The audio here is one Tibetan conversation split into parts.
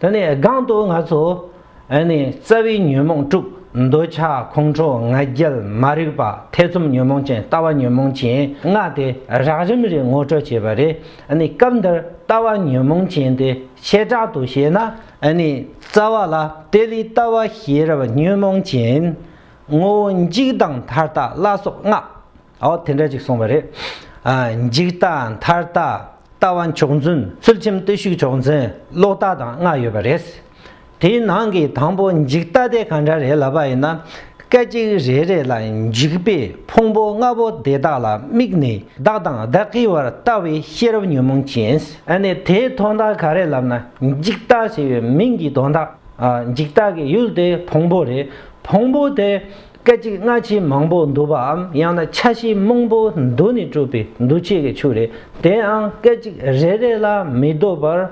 དེ་ནས་སྒང་དུ་ང་ཚོ་ནི་རྩ་བའི་ཉོན་མོངས་དཀྲུག་འདོད་ཆགས་ཁོང་ཁྲོ་ང་རྒྱལ་མ་རིག་པ་ཐེ་ཚོམ་ཉོན་མོངས་ཅན་ལྟ་བ་ཉོན་མོངས་ཅན་ལྔ་དེ་རགས་རིམ་རེ་ངོ་སྤྲོད་བྱས་པ་རེད་ནི་སྐབས་འདིར་ལྟ་བ་ཉོན་མོངས་ཅན་དེ་བྱེ་བྲག་ཏུ་བཤད་ན་ནི་རྩ་བ་ལ་དེ་ལས་ལྟ་བ་ཤེས་རབ་ཉོན་མོངས་ཅན་ངོ་བོ་འཇིག་དང་མཐར་ལྟ་བླ་སོགས་ལྔ། ཨོ་དེ་འདྲ་ཅིག་སོང་བ་རེད། འཇིག་ལྟ་མཐར་ལྟ་ལྟ་བ་མཆོག་མཛོད། ཚུལ་ཁྲིམས་བརྟུལ་ཞུགས་མཆོག་མཛོད་ལོག་ལྟ་དང་ལྔ་ཡོད་པ་རེད། དེའི་ནང་གི་དང་པོ་འཇིག་ལྟ་དེ་ག་འདྲ་རེད་ལབ་པ་ཡིན་ན། སྐད་ཅིག་རེ་རེ་ལ་འཇིག་པའི་ཕུང་པོ་ལྔ་པོ་དེ་དག་ལ་དམིགས་ནས་བདག་དང་བདག་གི་བར་ལྟ་བའི་ཤེས་རབ་ཉོན་མོངས་ཅན། ཨ་ནི་དེའི་དོན་དག་ག་རེད་ལབ་ན་འཇིག་ལྟ་ཞེས་པའི་མིང་གི་དོན་དག་འཇིག་ལྟ་གི་ཡུལ་དེ་ཕུང་པོ་རེད། ཕུང་པོ་དེ་སྐད་ཅིག་སྔ་ཕྱི་མང་པོ་འདུ་བའམ་ཡང་ན་ཆ་ཤས་མང་པོ་འདུ་ནས་གྲུབ་པའི་འདུ་བྱེད་ཀྱི་ཆུ་རེད་དེའང་སྐད་ཅིག་རེ་རེ་ལ་མི་ལྡོག་པར་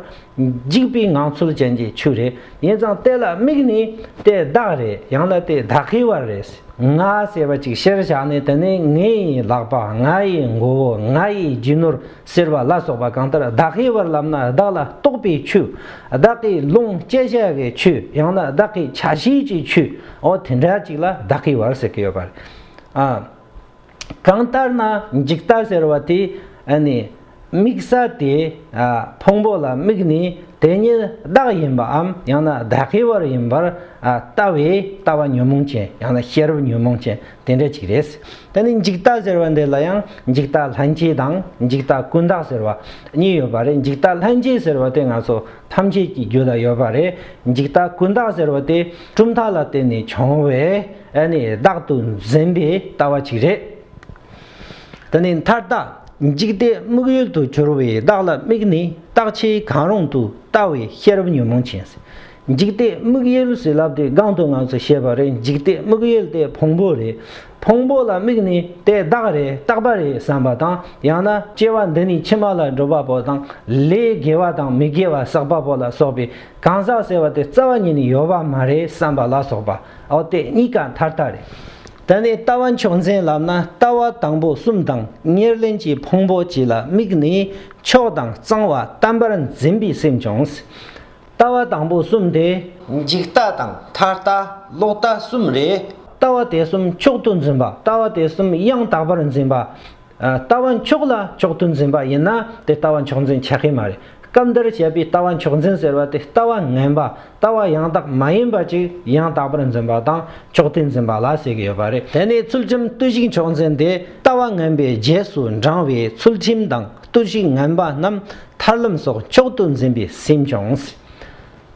འཇིག་པའི་ངང་ཚུལ་ཅན་གྱི་ཆུ་རེད་ཡིན་ཙང་དེ་ལ་དམིགས་ནས་དེ་བདག་རེད་ཡང་ན་དེ་བདག་གི་བ་རེད་ང་ཟེར་བ་ཅིག་ཤེར་བཞག་ནི་དེ་ནི་ངའི་ལག་པ་ང་ཡི་མགོ་བོ་ང་ཡི་རྒྱུ་ནོར་ཟེར་བ་ལ་སོགས་པ་གང་ལྟར་བདག་གི་བར་ལམ་ན་བདག་ལ་གཏོགས་པའི་ཆུ། བདག་གི་ལོངས་སྤྱད་བྱ་བའི་ཆུ་ཡང་ན་བདག་གི་བྱ་བྱེད་ཀྱི་ཆུའོ་དེ་འདྲ་ཅིག་ལ་བདག་གི་བར་ཟེར་གྱི་ཡོད་པ་རེད། གང་ལྟར་ན་འཇིག་ལྟ་ཟེར་བ་དེ་ནི་དམིགས་ས་དེ་ཕུང་པོ་ལ་དམིགས་ནས་དེ་ཉིད་བདག་ཡིན་པའམ་ཡང་ན་བདག་གི་བར་ཡིན་པར་ལྟ་བའི་ལྟ་བ་ཉོན་མོངས་ཅན་ཡང་ན་ཤེས་རབ་ཉོན་མོངས་ཅན་དེ་འདྲ་ཅིག་རེད། ད་ནི་འཇིག་ལྟ་ཟེར་བ་འདི་ལ་ཡང་འཇིག་ལྟ་ལྷན་སྐྱེས་དང་འཇིག་ལྟ་ཀུན་བརྟགས་ཟེར་བ་གཉིས་ཡོད་པ་རེད་འཇིག་ལྟ་ལྷན་སྐྱེས་ཟེར་བ་དེ་ང་ཚོ་ཐམས་ཅད་ཀྱི་རྒྱུད་ལ་ཡོད་པ་རེད་འཇིག་ལྟ་ཀུན་བརྟགས་ཟེར་བ་དེ་གྲུབ་མཐའ་ལ་བརྟེན་ནས་བྱུང་བའི་ནི་བདག་ཏུ་འཛིན་པའི་ལྟ་བ་ཅིག་རེད། ད་ནི་མཐར་བདག་འཇིག་ལྟའི་དམིགས་ཡུལ་དུ་གྱུར་བའི་བདག་ལ་དམིགས་ནས་བརྟག་བྱའི་གང་རུང་དུ་ལྟ་བའི་ཤེས་རབ་ཉོན་མོངས་ཅན། འཇིག་ལྟས་དམིགས་ཡུལ་ཟིལ་རླབས་དེ་སྒང་དུ་ང་ཚོས་བཤད་པ་རེད་འཇིག་ལྟས་དམིགས་ཡུལ་དེ་ཕུང་པོ་རེད་ཕུང་པོ་ལ་དམིགས་ནས་དེ་བདག་རེད་རྟག་པ་རེད་བསམ་པ་དང་ཡང་ན་སྐྱེ་བ་འདི་ནས་ཕྱི་མ་ལ་འགྲོ་པ་པོ་དང་ལས་དགེ་བ་དང་མི་དགེ་བ་བསགས་པ་པོ་ལ་སོགས་པའི་གང་ཟག་ཟེར་བ་དེ་རྩ་བ་ཉིད་ནས་ཡོད་པ་མ་རེད་བསམ་པ་ལ་སོགས་པའོ་དེ་གཉིས་ཀ་མཐར་ལྟ་རེད། ད་ནི་ལྟ་བ་མཆོག་འཛིན་ལབ་ན་ལྟ་བ་དང་པོ་གསུམ་དང་ཉེར་ལེན་གྱི་ཕུང་པོ་གཅིག་ལ་དམིགས་ནས་མཆོག་དང་གཙང་བ་བལྟམ་པར་འཛིན་པའི་སེམས་བྱུང། ལྟ་བ་དང་པོ་གསུམ་སྟེ། འཇིག་ལྟ་དང་མཐར་ལྟ་ལོག་ལྟ་གསུམ་རེད། ལྟ་བ་དེ་གསུམ་མཆོག་ཏུ་འཛིན་པ་ལྟ་བ་དེ་གསུམ་ཡང་དག་པར་འཛིན་པ། ལྟ་བ་མཆོག་ལ་མཆོག་ཏུ་འཛིན་པ་ཡིན་ན་དེ་ལྟ་བ་མཆོག་འཛིན་ཆགས་ཀྱི་མ་རེད། སྐབས་འདིར་བཤད་པའི་ལྟ་བ་མཆོག་འཛིན་ཟེར་བ་དེ་ལྟ་བ་ངན་པ་ལྟ་བ་ཡང་དག་མ་ཡིན་པ་ཅིག་ཡང་དག་པར་འཛིན་པ་དང་མཆོག་ཏུ་འཛིན་པ་ལ་ཟེར་གྱི་ཡོད་པ་རེད། དེ་ནི་ཚུལ་ཁྲིམས་བརྟུལ་ཞུགས་མཆོག་འཛིན་དེ་ལྟ་བ་ངན་པའི་རྗེས་སུ་འབྲང་བའི་ཚུལ་ཁྲིམས་དང་བརྟུལ་ཞུགས་ངན་པ་རྣམས་ཐར་ལམ་སོགས་མཆོག་ཏུ་འཛིན་པའི་སེམས་བྱུང།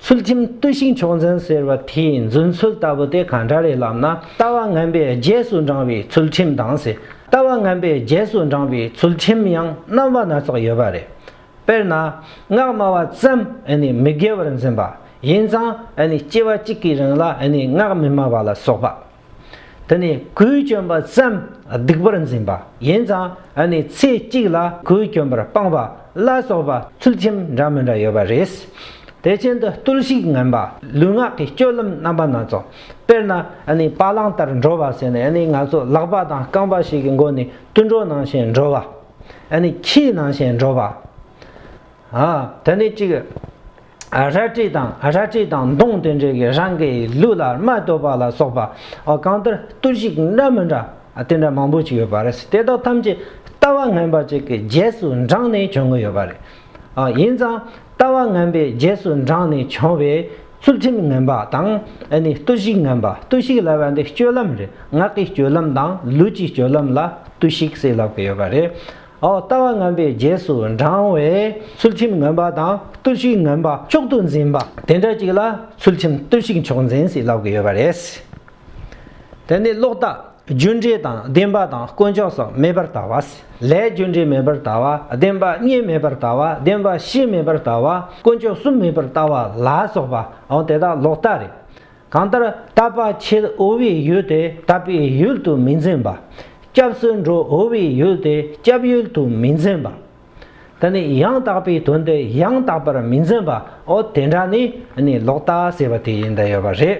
ཚུལ་ཁྲིམས་བརྟུལ་ཞིང་མཆོག་འཛིན་ཟེར་བ་དེའི་རྫུན་ཚུལ་ལྟ་བུ་དེ་གང་འདྲ་རེད་ལབ་ན་ལྟ་བ་ངན་པས་རྗེས་སུ་འབྲང་བའི་ཚུལ་ཁྲིམས་དང། ལྟ་བ་ངན་པས་རྗེས་སུ་འབྲང་བའི་ཚུལ་ཁྲིམས་ཡང་རྣམ་པ་སྣ་ཚོགས་ཡོད་པ་རེད། དཔེར་ན། སྔགས་སྨྲ་བ་ཙམ་ནི་མི་དགེ་བར་འཛིན་པ། ཡིན་ཙང་ནི་སྐྱེ་བ་གཅིག་གི་རིང་ལ་ནི་སྔགས་མི་སྨྲ་བ་ལ་སོགས་པ། དེ་ནས་གོས་གྱོན་པ་ཙམ་སྡིག་པར་འཛིན་པ་ཡིན་ཙང་ཨ་ནི་ཚེ་གཅིག་ལ་གོས་གྱོན་པར་སྤངས་པ་བླ་སོགས་པ་ཚུལ་ཁྲིམས་འདྲ་མི་འདྲ་ཡོད་པ་རེད། དེ་བཞིན་དུ་བརྟུལ་ཞུགས་ངན་པ་ལུས་ངག་གི་སྤྱོད་ལམ་རྣམ་པ་སྣ་ཚོགས་དཔེར་ན་ཨ་ནི་བ་གླང་ལྟར་འགྲོ་བ་ཟེར་ནས་ཨ་ནི་ང་ཚོ་ལག་པ་དང་རྐང་པ་ཞིག་གི་མགོ་ནས་དུད་འགྲོ་ནང་བཞིན་འགྲོ་བ་ཨ་ནི་ཁྱིའི་ནང་བཞིན་འགྲོ་བ། དེ་ནི་གཅིག། རལ་གྲི་དང་རལ་གྲི་དང་མདུང་དེ་འདྲའི་གི་རང་གི་ལུས་ལ་རྨ་སྟོད་པ་ལ་སོགས་པ་གང་ལྟར་གཏུར་བཤིག་འདྲ་མི་འདྲ་དེ་འདྲ་མང་པོ་ཞིག་ཡོད་པ་རེད་དེ་དག་ཐམས་ཅད་ལྟ་བ་ངན་པ་ཅིག་གི་རྗེས་སུ་འབྲངས་ནས་བྱུང་གི་ཡོད་པ་རེད། ཡིན་ཙང་ལྟ་བ་ངན་པའི་རྗེས་སུ་འབྲངས་ནས་བྱུང་བའི་ཚུལ་ཁྲིམས་ངན་པ་དང་གཏུར་བཤིག་ངན་པ་གཏུར་བཤིག་ལབ་པ་འདི་སྤྱོད་ལམ་རེད་ངག་གི་སྤྱོད་ལམ་དང་ལུས་ཀྱི་སྤྱོད་ལམ་ལ་གཏུར་བཤིག་སྲིད་ལབ་ཀྱི་ཡོད་པ་རེད། འོག་ལྟ་བ་ངན་པའི་རྗེས་སུ་འབྲང་བས་ཚུལ་ཁྲིམས་ངན་པ་དང་རྟུལ་ཞུགས་ངན་པ་མཆོག་ཏུ་འཛིན་པ་དེ་འདྲ་ཅིག་ལ་ཚུལ་ཁྲིམས་རྟུལ་ཞུགས་མཆོག་འཛིན་ཞེས་ལབ་དགོས་ཡོད་པ་རེད། དེ་ནས་ལོག་ལྟ་རྒྱུ་འབྲས་དང་བདེན་པ་དང་དཀོན་མཆོག་སོགས་མེད་པར་ལྟ་བ། ལྷའི་རྒྱུ་འབྲས་མེད་པར་ལྟ་བ་བདེན་པ་གཉིས་མེད་པར་ལྟ་བ་བདེན་པ་བཞི་མེད་པར་ལྟ་བ་དཀོན་མཆོག་གསུམ་མེད་པར་ལྟ་བ་ལ་སོགས་པའང་དེ་དག་ལོག་ལྟ་རེད། གང་ལྟར་ལྟ་བ་ཕྱེད་དབུལ་བའི་ཡུལ་དེ་ལྟ་བའི་ཡུལ་དུ་མི་འཛིན་པ། སྐྱབས་སུ་འགྲོ་དབུལ་བའི་ཡུལ་དེ་སྐྱབས་ཡུལ་དུ་མི་འཛིན་པ། ད་ནི་ཡང་དག་པའི་དོན་དེ་ཡང་དག་པར་མི་འཛིན་པའོ་དེ་འདྲ་ནི་ནི་ལོག་ལྟ་ཟེར་བ་དེ་ཡིན་ད་ཡོད་པ་རེད།